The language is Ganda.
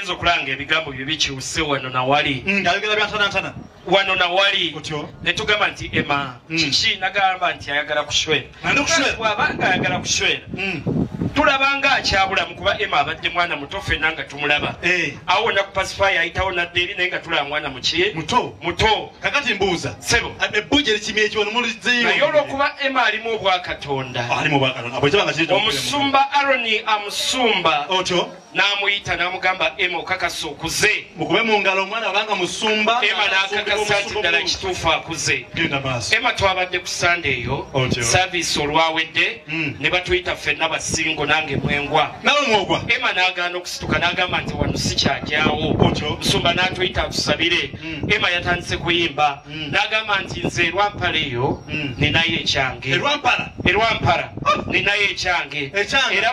nze okulanga ebigambo bye bikyuse wano nawali mm, ngayogera byantanantana wano nawali netugamba nti ema mm. kiki nagamba nti ayagala kushwera bwaba nga ayagala kushwera mm. tulaba nga akyabulamu kuba ema abadde mwana muto fena nga tumulaba eh. awo wona kupasifaya ayitawo nadde eri naye nga tulaba mwana muki muto muto kakati mbuuza sebo ebbuja erikimi ekiwanumulizeynaye olwokuba ema alimu obwakatonda omusumba aroni amusumba otyo n'amuyita n'amugamba ema okakasa okuze mukube mu ngalo omwana abanga musumba ema n'akakasa nti ddala kituufu akuze ema twabadde ku sande eyo saavisi olwawedde hmm. ne batuyita ffenna basingo nange mwengwa nawe mwogwa ema n'agaana okusituka n'agamba nti wano sikyagyawo musumba n'atuyita atusabire hmm. ema yatandise kuyimba hmm. n'agamba nti nze erwampala eyo ninayo ekyange erwampala ah! ninayo ekyange era